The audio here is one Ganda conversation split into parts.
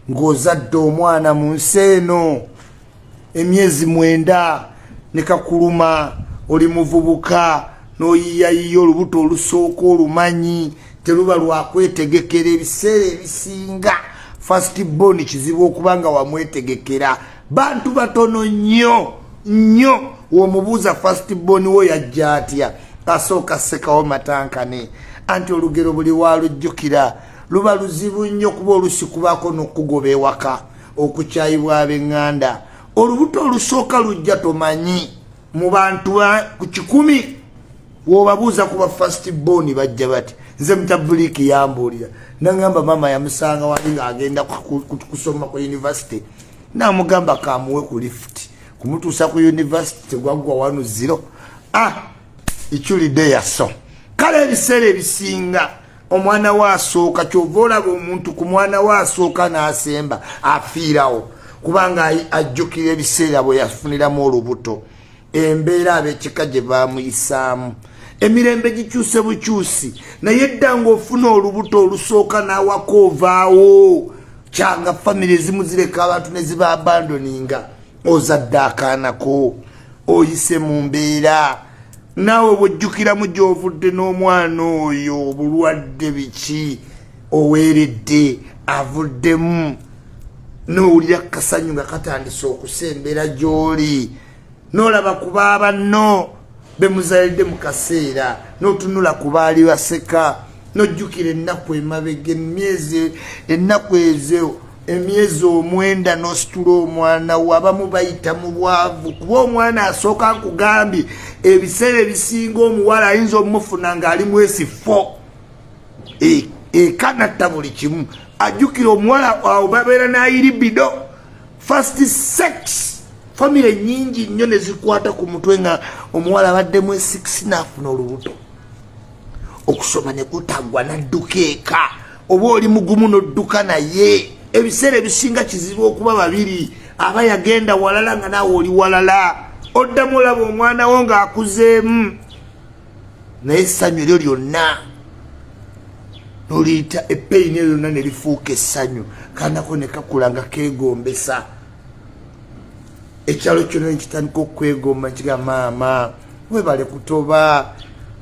ng'ozadde omwana mu nsi eno emyezi mwenda ne kakuluma oli muvubuka n'oyiyayiya olubuto olusooka olumanyi teruba lwakwetegekera ebiseera ebisinga fast bon kizibu okuba nga wamwetegekera bantu batono nnyo nnyo womubuuza fast bon wo yajja atya asooka sekawo matankane anti olugero buli walujjukira luba luzibu nnyo kuba olusi kubaako n'okukugoba ewaka okukyayibwa ab'eŋŋanda olubuto olusooka lujja tomanyi mu bantu ku kikumi wobabuuza kuba fast bon bajja bati nze mutabuliiki yambuulira nagamba maama yamusanga wali ng'agenda kusoma ku univesity namugamba kamuwe ku lifuti kumutuusa ku univesity tegwaggwa wanu ziro ah iculidde yaso kale ebiseera ebisinga omwana we asooka kyova olaba omuntu ku mwana we asooka n'asemba afiirawo kubanga ajjukira ebiseera bwe yafuniramu olubuto embeera abekika gye baamuyisaamu emirembe gikyuse bukyusi naye dda ng'ofuna olubuto olusooka n'awaka ovaawo kyanga famiry ezimu zireka abantu ne ziba abandoninga ozadde akaanako oyise mu mbeera naawe bwojjukiramu gyovudde n'omwana oyo obulwadde biki oweeredde avuddemu nowulira kasanyu nga katandise okusembera gy'oli nolaba ku baabanno bemuzalidde mu kaseera notunula ku baali baseka nojjukira ennaku emabega emyezi ennaku ezo emyezi omwenda nositula omwana wo abamu bayita mu bwavu kuba omwana asooka nkugambye ebiseera ebisinga omuwala ayinza omufuna ng'ali mwesi fo ekanatta e, buli kimu ajjukira omuwala awo babeera nayiribido fast sex famire nyingi nnyo nezikwata ku mutwe nga omuwala abaddemu esikisi naafuna olubuto okusoma nekutagwa nadduka eka oba oli mugumu n'odduka naye ebiseera ebisinga kizibu okuba babiri aba yagenda walala nga naawe oli walala oddamu olaba omwana wo ng'akuzeemu naye essanyu eryo lyonna noliyita epeyini eyo lyonna ne lifuuka essanyu kanako ne kakula nga keegombesa ekyalo kyona nekitandika okwegomba nkiga maama webale kutoba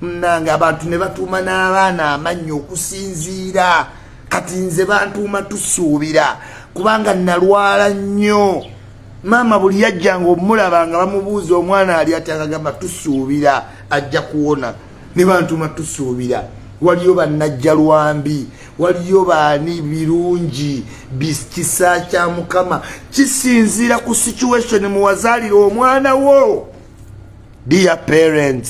munange abantu ne batuuma n'abaana amannyi okusinziira kati nze bantuuma tusuubira kubanga nalwala nnyo maama buli yajjanga omulaba nga bamubuuza omwana ali atyagagamba tusuubira ajja kuwona ne bantuma tusuubira waliyo bannajja lwambi waliyo baani birungi kisa kya mukama kisinziira ku situation muwazaalira omwana wo dear parents